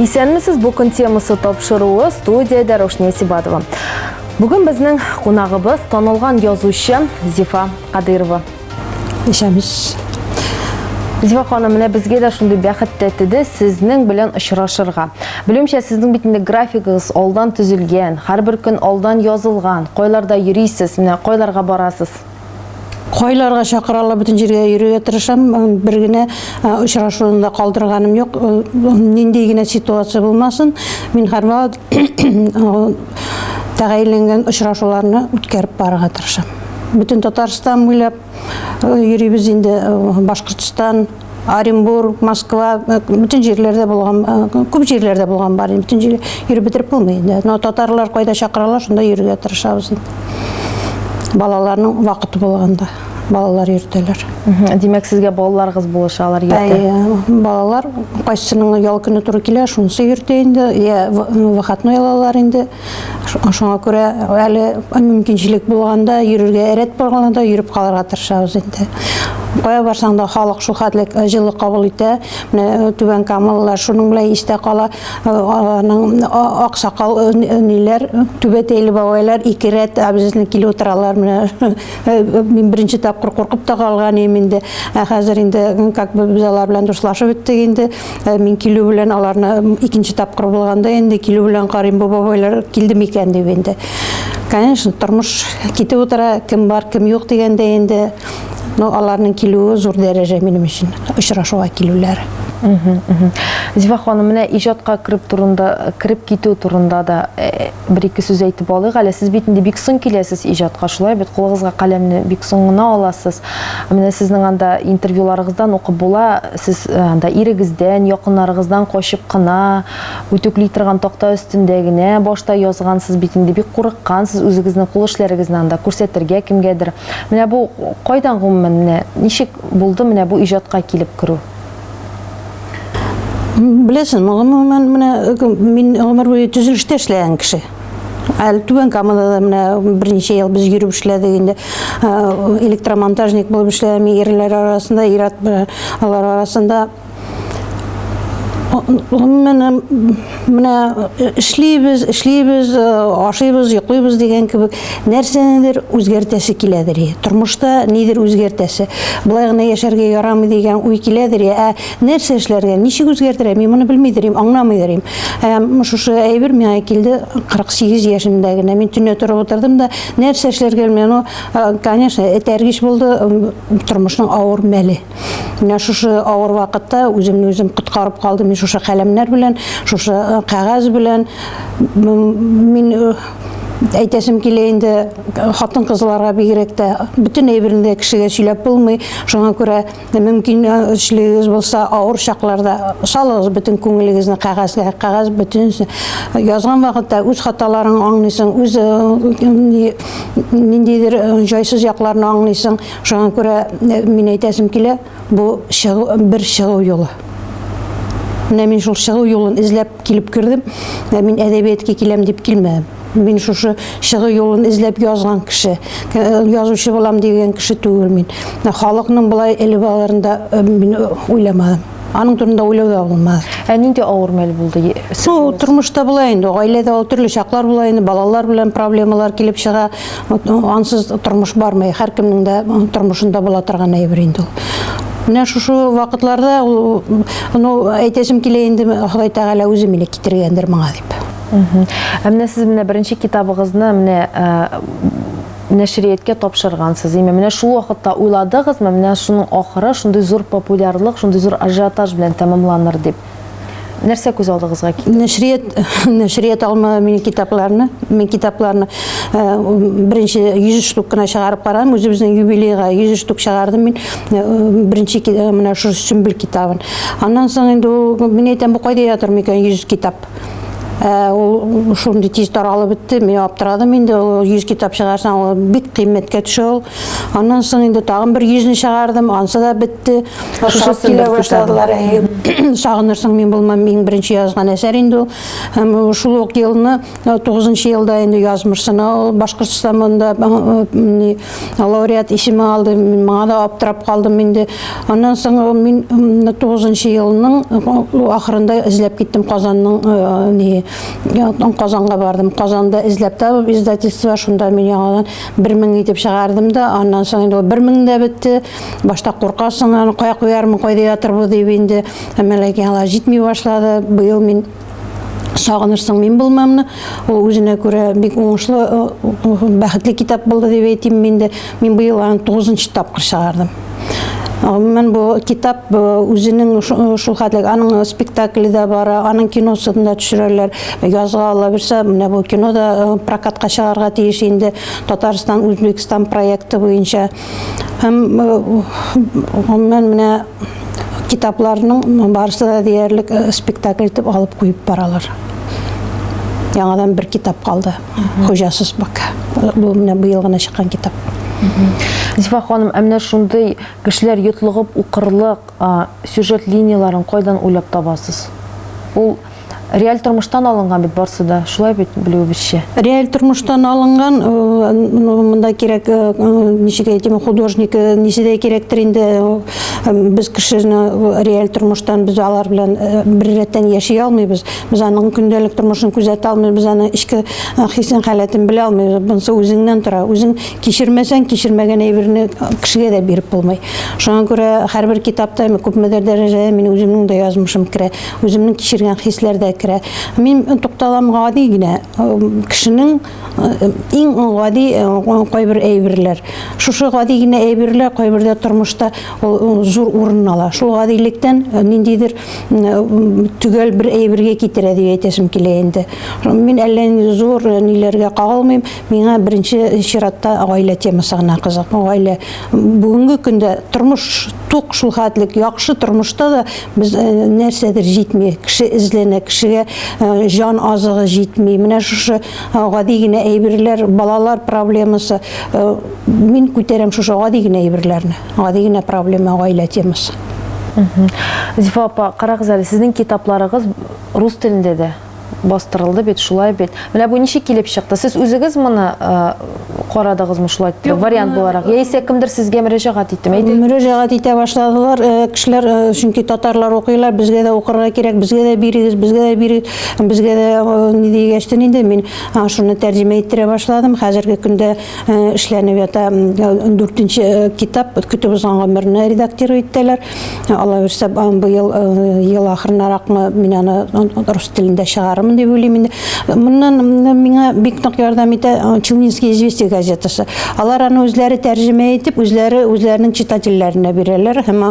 Исәнмесез, бу көн темасы тапшыруы студиядә Рошния Сибатова. Бүген безнең кунагыбыз танылган язучы Зифа Кадырова. Ишәмеш. Зифа ханым, менә безгә дә шундый бәхет тәтеде сезнең белән очрашырга. Белүемчә, сезнең бит инде графигыгыз алдан төзелгән, һәрбер көн алдан язылган. Кайларда йөрисез, менә кайларга барасыз? Кайларга чакыралар, бөтен җиргә йөрергә тырышам. Бер генә очрашуны да калдырганым юк. Нинди генә ситуация булмасын, мин һәрвакыт тәгаенләнгән очрашуларны үткәреп барырга тырышам. Бөтен Татарстан буйлап йөрибез инде Башкортстан, Оренбург, Москва, бөтен җирләрдә булган, күп җирләрдә булган бар. Бөтен җир йөреп бетереп булмый инде. Но татарлар кайда чакыралар, шунда йөрергә тырышабыз инде. Балаларның вакыты булганда. балалар йөртәләр. Димәк, сезгә балаларыгыз булыша, алар йөртә. Әйе, балалар кайсының ял көне туры килә, шунысы йөртә инде, я выходной алалар инде. Шуңа күрә әле мөмкинчелек булганда йөрергә рәт булганда йөреп калырга тырышабыз инде. Кая барсаң да халык шул хәтле җылы кабул итә. Менә түбән камалылар шуның белән истә кала. Аларның аксакал ниләр, түбәтәйле бабайлар ике рәт абзыйны килеп утыралар менә. Э, э, мин беренче тапкыр куркып та калган идем инде ә хәзер инде как бы без алар белән дуслашып беттек инде э, мин килү белән аларны икенче тапкыр булганда инде килү белән карыйм бу бабайлар килде микән дип инде конечно тормыш китеп утыра кем бар кем юк дигәндә инде но аларның килүе зур дәрәҗә минем өчен очрашуга килүләре зифа ханым менә иҗатка кереп турында кереп китү турында да Бер-ике сүз әйтеп алыйк әле. Сез бит инде бик соң киләсез иҗатка, шулай бит? Кулыгызга каләмне бик соң гына аласыз. Менә сезнең анда интервьюларыгыздан укып була, сез э, анда ирегездән, якыннарыгыздан качып кына, үтүкли торган такта өстендә генә башта язгансыз бит инде, бик курыккансыз үзегезнең кул эшләрегезне анда күрсәтергә кемгәдер. Менә бу кайдан гомумән, менә ничек булды менә бу иҗатка килеп керү? Беләсең, гомумән менә мин гомер буе төзелештә эшләгән кеше. Әле Түбән Камада да менә берничә ел без йөреп эшләдек инде. Электромонтажник булып эшләгән ирләр арасында, ират алар арасында гомумән Менә э, эшлибез, эшлибез, э, ашыйбыз, йоклыйбыз дигән кебек нәрсәнедер үзгәртәсе киләдер. Тормышта нидер үзгәртәсе. Былай гына яшәргә ярамый дигән уй киләдер. Ә нәрсә эшләргә, ничек үзгәртергә, мин моны белмидер идем, аңламыйдыр идем. Ә шушы әйбер миңа килде 48 яшемдә генә. Мин төнлә торып утырдым да, нәрсә эшләргә белмәдем. Ну, э, конечно, этәргеч булды тормышның авыр мәле. Менә шушы авыр вакытта үземне үзем коткарып калдым. Мин шушы каләмнәр белән, шушы э, кәгазь белән мин э, әйтәсем килә инде хатын кызларга бигрәк тә бөтен әйберне дә кешегә сөйләп булмый шуңа күрә мөмкинчелегегез булса авыр чакларда салыгыз бөтен күңелегезне кәгазьгә кәгазь бөтен язган вакытта үз хаталарың аңлыйсың үз ниндидер җайсыз якларны аңлыйсың Шуңа күрә мин әйтәсем килә, бу чыгу, бер чыгу юлы. Менә мин шул чыгу юлын эзләп килеп кердем, ә мин әдәбиятка киләм дип килмәдем. Мин шушы чыгу юлын эзләп язган кеше, язучы булам дигән кеше түгел мин. Халыкның болай элеп алырында мин уйламадым. Аның турында уйлау да булмады. Ә нинди авыр мәл булды? Ну, тормышта була инде, гаиләдә ул төрле чаклар була инде, балалар белән проблемалар килеп чыга. Ансыз тормыш бармый, һәркемнең дә тормышында була торган әйбер инде ул. Менә шушы вакытларда ул, ну, әйтәсем килә инде, Ходай Тәгалә үзе мине китергәндер моңа дип. Ә менә сез менә беренче китабыгызны менә нәшрияткә тапшыргансыз име? Менә шул вакытта уйладыгызмы, менә шуның ахыры шундый зур популярлык, шундый зур ажиотаж белән тәмамланыр дип? Нәрсә күз алдыгызга килде? Нәшрият, нәшрият алма минем китапларны, мин китапларны э, беренче 100 штук кына чыгарып карадым, үзебезнең юбилейга 100 штук чыгардым мин э, беренче э, менә шушы сөмбел китабын. Аннан соң инде ул мин әйтәм, бу кайда ятыр микән 100 китап? Ә, ул шундый тиз таралып бетте, мин аптырадым инде, ул 100 китап чыгарсаң, ул бик кыйммәткә төшә ул. Аннан соң инде тагын бер 100-не чыгардым, ансы да бетте. Шусы килә башладылар. Сагынырсың мин булмам, иң беренче язган әсәр инде ул. Һәм шул ук елны, 9 елда инде язмырсына ул Башкортстан монда лауреат исеме алды. Мин моңа да аптырап калдым инде. Аннан соң э, мин 9 елның э, ахырында эзләп киттем Казанның э, не Казанга бардым. Казанда эзләп табып издательство шунда мин яңадан 1000 итеп чыгардым да, аннан соң инде 1000 дә бетте. Башта куркасың, аны кая куярмын, кайда ятырбыз дип инде. Әмәләки алар җитми башлады. Быел мин сагынырсың мин булмамны ул үзенә күрә бик уңышлы бәхетле китап булды дип әйтим мин дә мин быел аны тугызынчы тапкыр чыгардым Гомумән бу китап үзенең шул хәтле аның спектакле дә бара, аның киносын да төшерәләр. Язга ала бирсә, менә бу кино да прокатка чыгарга тиеш инде. Татарстан, Үзбекстан проекты буенча Һәм оннан менә китапларның барысы да диярлек спектакль итеп алып куеп баралар. Яңадан бер китап калды. Хуҗасыз бак. Бу менә быел гына чыккан китап. Зифа ханым, ә менә шундый кешеләр йотлыгып укырлык сюжет линияләрен кайдан уйлап табасыз? Ул Реаль тормыштан алынган бит барсы да, шулай бит белүебезчә. Реаль тормыштан алынган, э, ну, монда кирәк, э, э, ничек әйтим, художник ничедәй кирәктер инде без кешене реаль тормыштан без алар белән бер рәттән яши алмыйбыз. Без аның көндәлек тормышын күзәтә алмыйбыз, без аны эчке хисен халәтен белә алмыйбыз. Бунсы үзеңнән тора. Үзең кичермәсәң, кичермәгән әйберне кешегә дә биреп булмый. Шуңа күрә һәрбер китапта күпмедер дәрәҗәдә мин үземнең дә язмышым керә. үземнең кичергән хисләр дә керә. Мин тукталам гади генә кешенең иң гади кайбер әйберләр. Шушы гади генә әйберләр кайбердә тормышта зур урын ала. Шул гадилектән ниндидер төгәл бер әйбергә китерә дип әйтәсем килә инде. Мин әллә инде зур ниләргә кагылмыйм. Миңа беренче чиратта гаилә темасы гына кызык. Гаилә бүгенге көндә тормыш тук шул хәтлек яхшы тормышта да без э, нәрсәдер җитми. Кеше эзләнә, кешегә э, җан азыгы җитми. Менә шушы э, гади генә әйберләр, балалар проблемасы. Мин күтәрәм шушы гади генә әйберләрне. Гади генә проблема гаилә темасы. Зифа апа, карагыз әле, сезнең китапларыгыз рус телендә дә. бастырылды бит, шулай бит. Менә бу ничек килеп чыкты? Сез үзегез моны карадыгызмы шулай вариант буларак? Яисә кемдер сезгә мөрәҗәгать иттеме? Мөрәҗәгать итә башладылар. Кешеләр чөнки татарлар укыйлар, безгә дә укырга кирәк, безгә дә бирегез, безгә дә бирегез. Безгә дә ни дигәчтен инде мин шуны тәрҗемә иттерә башладым. Хәзерге көндә эшләнеп ята 4 китап көтеп узган гомерне редактировать итәләр. Алла бирсә, быел ел ахырынаракмы мин аны рус телендә чыгарырмын дип уйлыйм инде. Моннан миңа бик нык ярдәм итә Челнинский известия газетасы. Алар аны үзләре тәрҗемә итеп, үзләре үзләренең читательләренә бирәләр һәм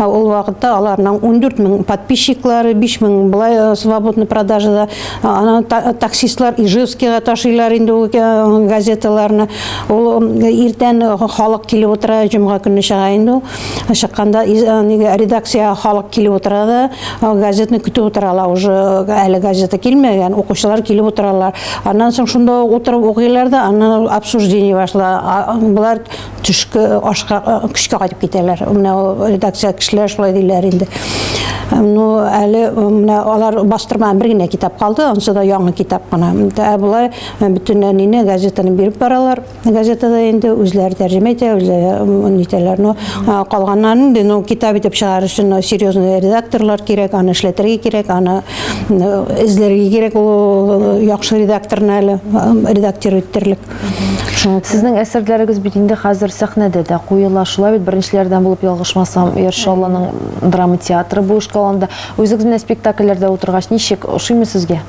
ул вакытта аларның 14 мең подписчиклары, 5 мең былай свободный продажада. Аны таксистлар Ижевскига ташыйлар инде ул газеталарны. Ул иртән халык килеп утыра, җомга көнне чыга инде ул. Чыкканда нигә редакция халык килеп утыра да, газетны көтеп утыралар уже. Әле газета килмәгән, укучылар килеп утыралар. Аннан соң шунда утырып укыйлар да, аннан обсуждение башла. Болар төшке ашка көчкә кайтып китәләр. Менә редакция кешеләр шулай диләр инде. Ну, әле менә алар бастырма бер генә китап калды, ансы да яңа китап кына. Ә болай бөтен әнине газетаны биреп баралар. Газетада инде үзләр тәрҗемә итә, үзләре нитәләр, но калганнан инде, но китап итеп чыгарыр өчен но серьезный редакторлар кирәк, аны эшләтергә кирәк, аны эзләргә кирәк ул яхшы редакторны әле редактировать итерлек. Сезнең әсәрләрегез бит инде хәзер сәхнәдә дә куела. Шулай бит беренчеләрдән булып ялгышмасам, Яршалланың драма театры бу эшкә алынды. Үзегез менә спектакльләрдә утыргач, ничек ошыймы сезгә?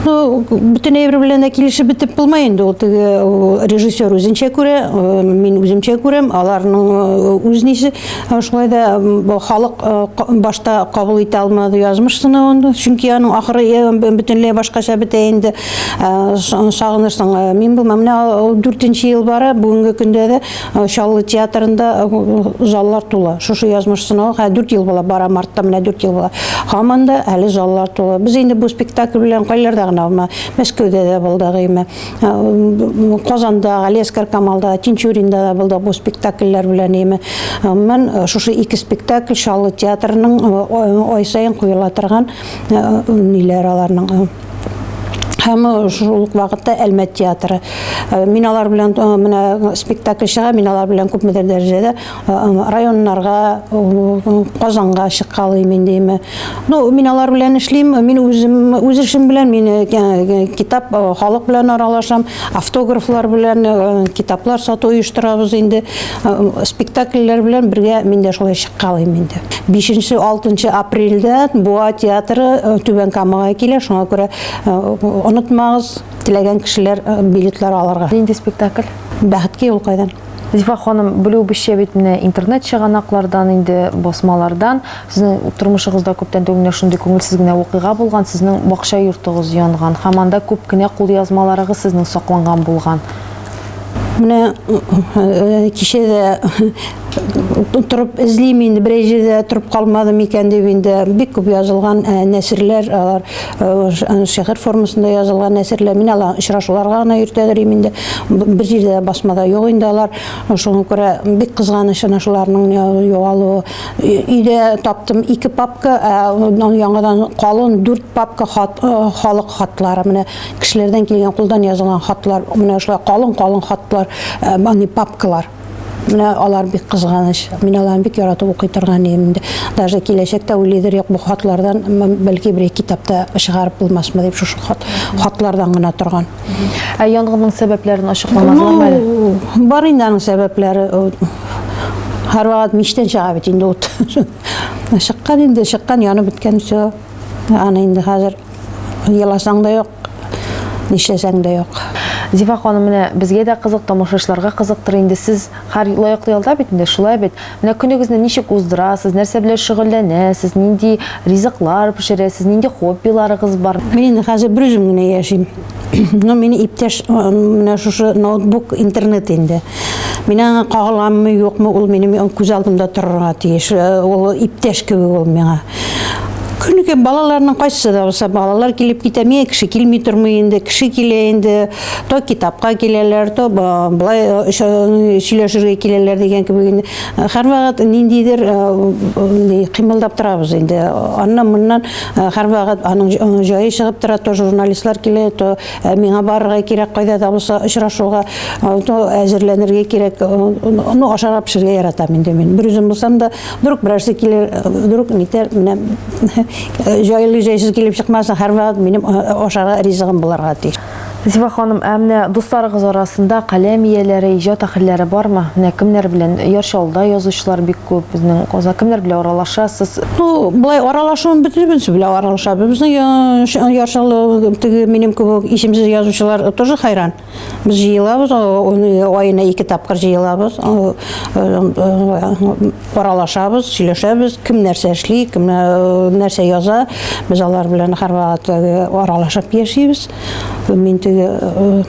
Ну, бөтенләй бер белән дә килешеп бетеп булмай инде ул теге режиссер үзенчә күрә, мин үземчә күрәм, аларның үз нисе. Шулай да халык башта кабул итә алмады язмыш сынавын, чөнки аның ахыры бөтенләй башкача бетә инде. Сагынырсың, мин булмам. Менә 4 ел бара, бүгенге көндә дә Э, Чаллы театрында э, заллар тула. Шушы язмыш сынау, хә 4 ел була, бара мартта менә 4 ел була. Һаман да әле заллар тула. Без инде бу спектакль белән кайларда гына булма, Мәскәүдә дә булдык име. Э, Казанда, Галескар Камалда, Тинчуринда да булдык бу спектакльләр белән име. Мен шушы ике спектакль Чаллы театрының ай сайын куела торган ниләр аларның һәм э, шул ук вакытта Әлмәт театры. Э, мин алар белән э, менә спектакль чыга, мин алар белән күпмедер дәрәҗәдә районнарга, Казанга чыккалыйм инде име. Ну, мин алар белән эшлим, мин үзем үз эшем белән мин китап халык белән аралашам. Автографлар белән китаплар сату оештырабыз инде. Спектакльләр белән бергә мин дә шулай чыккалыйм инде. 5-6 апрельдә Буа театры Түбән Камага килә, шуңа күрә онытмагыз, теләгән кешеләр билетлар алырга. Нинди спектакль? Бәхеткә юл кайдан? Зифа ханым, белүебезчә бит менә интернет чыганаклардан инде, басмалардан сезнең тормышыгызда күптән түгел менә шундый күңелсез генә вакыйга булган, сезнең бакча йортыгыз янган һәм анда күп кенә кулъязмаларыгыз сезнең сакланган булган. Менә э, кичә дә торып эзлим инде, берәй җирдә торып калмадым икән дип инде бик күп язылган э, нәсерләр алар. Шигырь формасында язылган әсәрләр мин алар очрашуларга гына йөртәдерим инде. Бер җирдә басмада юк инде алар. Шуңа күрә бик кызганыч ана шуларның югалуы. Өйдә таптым ике папка, ә яңадан калын дүрт папка хат, халык хатлары. Менә кешеләрдән килгән кулдан язылган хатлар, менә шулай калын-калын хатлар, аны папкалар. Менә алар бик кызганыч. Мин аларны бик яратып укый торган идем инде. Даже киләчәктә уйлыйдыр юк бу хатлардан бәлки бер китапта чыгарып булмасмы дип шушы хат, хатлардан гына торган. Ә янгынның сәбәпләрен ачыкламадылармы әле? Ну, бар инде аның сәбәпләре. Һәрвакыт мичтән чыга бит инде ут. Чыккан инде, чыккан, янып беткән все. Аны инде хәзер еласаң да юк. нишләсәң дә юк. Зифа ханым, менә безгә дә кызык, тамашачыларга кызыктыр инде, сез хәр лаеклы ялда бит инде, шулай бит? Менә көнегезне ничек уздырасыз, нәрсә белән шөгыльләнәсез, нинди ризыклар пешерәсез, нинди хоббиларыгыз бар? Мин инде хәзер берүзем генә яшим. Ну, мине иптәш менә шушы ноутбук, интернет инде. Мин аңа кагыламмы, юкмы, ул минем күз алдымда торырга тиеш. Ул иптәш кебек ул миңа. Күнеке балаларның кайсы да булса балалар килеп китә, миңа кеше килми тормый инде, кеше килә инде, то китапка киләләр, то былай э, э, сөйләшергә киләләр дигән кебек инде. Һәрвакыт ниндидер э, кыймылдап торабыз инде. Аннан моннан һәрвакыт аның җае чыгып тора, то журналистлар килә, то миңа барырга кирәк, кайда да булса очрашуга, то әзерләнергә кирәк. Ну, ашарга пешерергә яратам инде мин. Бер үзем булсам да, Вдруг берәрсе килер, вдруг нитер, менә җайлы җайсыз килеп чыкмасын, һәрвакыт минем ашарга ризыгым буларга тиеш. Зифа ханым, ә менә дусларыгыз арасында каләм ияләре, иҗат әһелләре бармы? Менә кемнәр белән Яр Чаллыда язучылар бик күп, безнең Казан кемнәр белән аралашасыз? Ну, былай аралашуым бөтенебез белән аралашабыз. Безнең Яр Чаллы теге минем кебек исемсез язучылар тоже хайран. Без җыелабыз, айына ике тапкыр җыелабыз, аралашабыз, сөйләшәбез, кем нәрсә эшли, кем нәрсә яза. Без алар белән һәрвакыт аралашып яшибез. Мин теге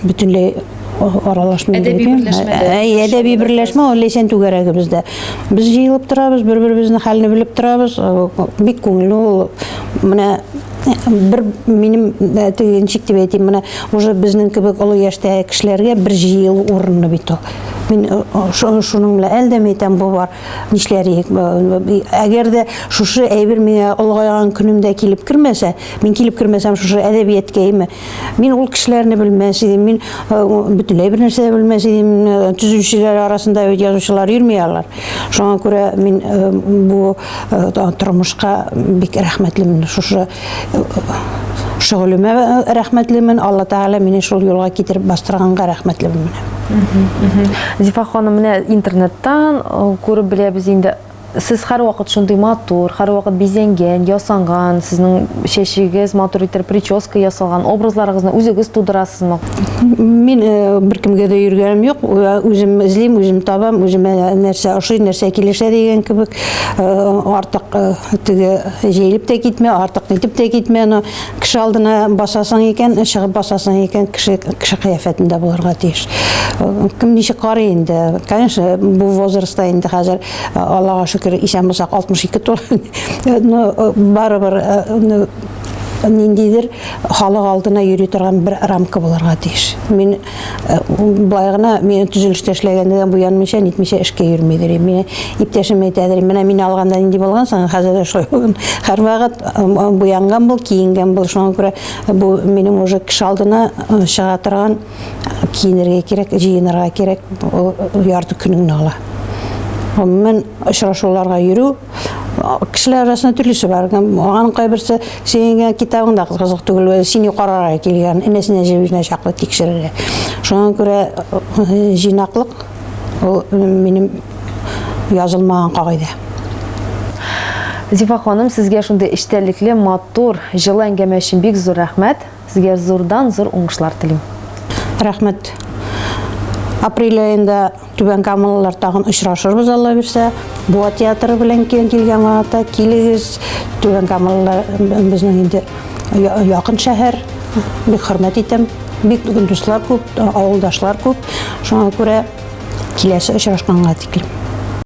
бөтенләй аралашмый. Әдәби берләшмә. Әдәби берләшмә ул Ләйсән түгәрәгебездә. Без җыелып торабыз, бер-беребезнең хәлне белеп торабыз. Бик күңелле ул. Менә бер минем э, төенчик дип әйтим менә уже безнең кебек олы яшьтәге кешеләргә бер җыелу урыны бит ул мин э, шуның белән әлдәм әйтәм бу бар нишләриек әгәр дә шушы әйбер миңа олыгайган көнемдә килеп кермәсә мин килеп кермәсәм шушы әдәбияткә име мин ул кешеләрне белмәс идем мин э, бөтенләй бер нәрсә дә белмәс идем төзүчеләр арасында бит язучылар йөрми алар шуңа күрә мин бу тормышка бик рәхмәтлемен шушы шөгылемә рәхмәтлемен алла тәгалә мине шул юлга китереп бастырганга рәхмәтлемен менә зифа ханым менә интернеттан күреп беләбез инде сез һәрвакыт шундый матур һәрвакыт бизәнгән ясанган сезнең чәчегез матур иттереп прическа ясалган образларыгызны үзегез тудырасызмы Мин э, бер кемгә дә йөргәнем юк. Э, үзем эзлим, үзем табам, үземә нәрсә ошый, нәрсә килешә дигән кебек. Э, артык теге җәелеп тә китмә, артык нитеп тә китмә. Но кеше алдына басасың икән, чыгып басасың икән, кеше кеше кыяфәтендә булырга тиеш. Кем ничек карый инде? Конечно, бу возрастта инде хәзер Аллага шөкер, исән булсак 62 тула. Но барыбер ниндидер халык алдына йөри торган бер рамка булырга тиеш. Мин э, былай гына мин төзелештә эшләгәндә дә буянмыйча, нитмичә эшкә йөрмидер. Мин иптәшем әйтәдер, менә мин алганда нинди булган соң, хәзер дә шулай булган. Һәрвакыт э, буянган бул, киенгән бул. Шуңа күрә э, бу минем уже кеше алдына чыга торган киенергә кирәк, җыенырга кирәк. Ул ярты көнеңне ала. Гомумән очрашуларга йөрү кешеләр арасында төрлесе бар аның кайберсе сеңгән китабың да кызык түгел сине карарга килгән энәсенә җебезенә чаклы тикшерергә шуңа күрә җыйнаклык ул минем язылмаган кагыйдә Зифа ханым, сезгә шундый эчтәлекле, матур, җылы әңгәмә өчен бик зур рәхмәт. Сезгә зурдан зур уңышлар телим. Рәхмәт. Апрель аенда Түбән Камалылар тагын очрашырбыз, Алла бирсә. Буа театры белән киен килгән вакытта килегез. Түбән Камалылар безнең инде якын шәһәр. Бик хөрмәт итәм. Бик дуслар күп, авылдашлар күп. Шуңа күрә киләсе очрашканга тиклем.